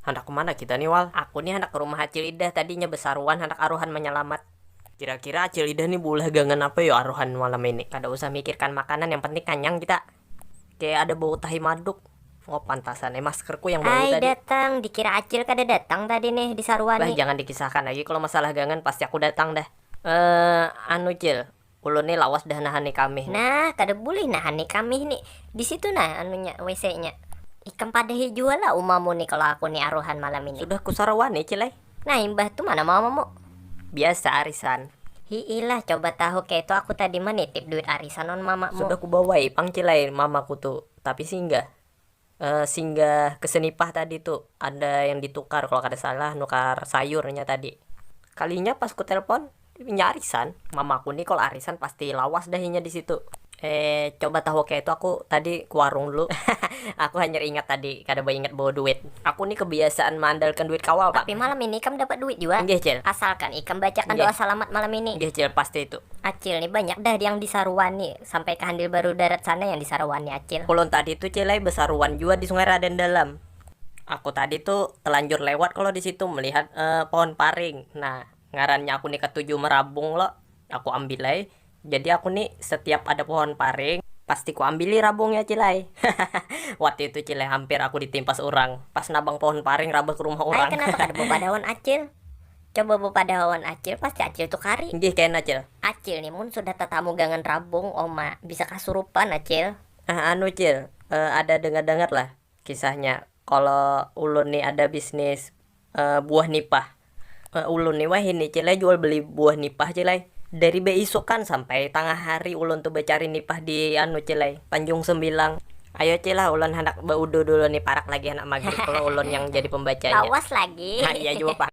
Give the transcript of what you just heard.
Handak kumana kita ni wal. Aku ni handak kerumah acil idah tadinya besaruan handak aruhan menyelamat. Kira kira acil idah ni beulah gangan apa yo aruhan malam ini. Kada usah mikirkan makanan yang penting kanyang kita. Kaya ada bau tahi maduk. Oh pantasan ai maskerku yang bau tadi. Ai datang, dikira acil kada datang tadi nih disarwani. Bah jangan dikisahkan lagi kalo masalah gangan pasti aku datang dah. Eeh anu cil, Ulun ni lawas dah nahani kamih ni. Nah, kada bulih nahani kamih ni. Di situ nah anunya, WC nya. Ikam padahi jua lah umamu ni kalo aku ni aruhan malam ini. Sudah ku sarawa ni cil ai. Nah imbah tu mana mamamu? Biasa arisan. Hi'ih lah, coba tahu keitu aku tadi manitip duit arisan wan mamamu. Sudah ku bawai pang cil ai mamaku tu, tapi singgah. Singgah ke senipah tadi tu, ada yang ditukar kalo kada salah nukar sayur nya tadi. Kalinya pas ku telpon, inya arisan. Mamaku ni kalo arisan pasti lawas dah inya disitu. Eeh coba tahu kaya itu aku tadi ke warung dulu hahaha aku hanyar ingat tadi kada baingat bawa duit. Aku ni kebiasaan maandalkan duit kawa pang. Tapi malam ini ikam dapat duit jua. Nggih cil. Asalkan ikam bacakan doa salamat malam ini. Nggih cil pasti itu. Acil ni banyak dah yang disaruani. sampai ka handil baru darat sana yang di saruan ni acil. Ulun tadi tu cil ai besaruan jua di sungai raden dalam, aku tadi tu telanjur lewat kalo di situ melihat pohon paring nah ngarannya aku ni katuju merabung lo aku ambil ai jadi aku ni setiap ada pohon paring pasti ku ambili rabungnya cil ai hahaha waktu itu cil ai hampir aku di timpas urang pas nabang pohon paring rabah ke rumah urang hahaha. Ai kenapa kada bawa badaun acil. Coba bepadaha wan acil pasti acil tu kari. Nggih kena cil. Acil ni mun sudah tatamu gangan rabung oma bisa kasurupan acil. Ah anu cil, eh ada dengar dengar lah kisahnya kalo ulun ni ada bisnis eh buah nipah. Eh ulun ni wahini cil ai jual beli buah nipah cil ai, dari beisukan sampai tangah hari ulun tu becari nipah di anu cil ai tanjung sembilang. Ayo ci lah ulun handak ba udu dulu ni parak lagi handak magrib kalo ulun yang jadi pembacanya. Lawas lagi. Nah iya jua pang.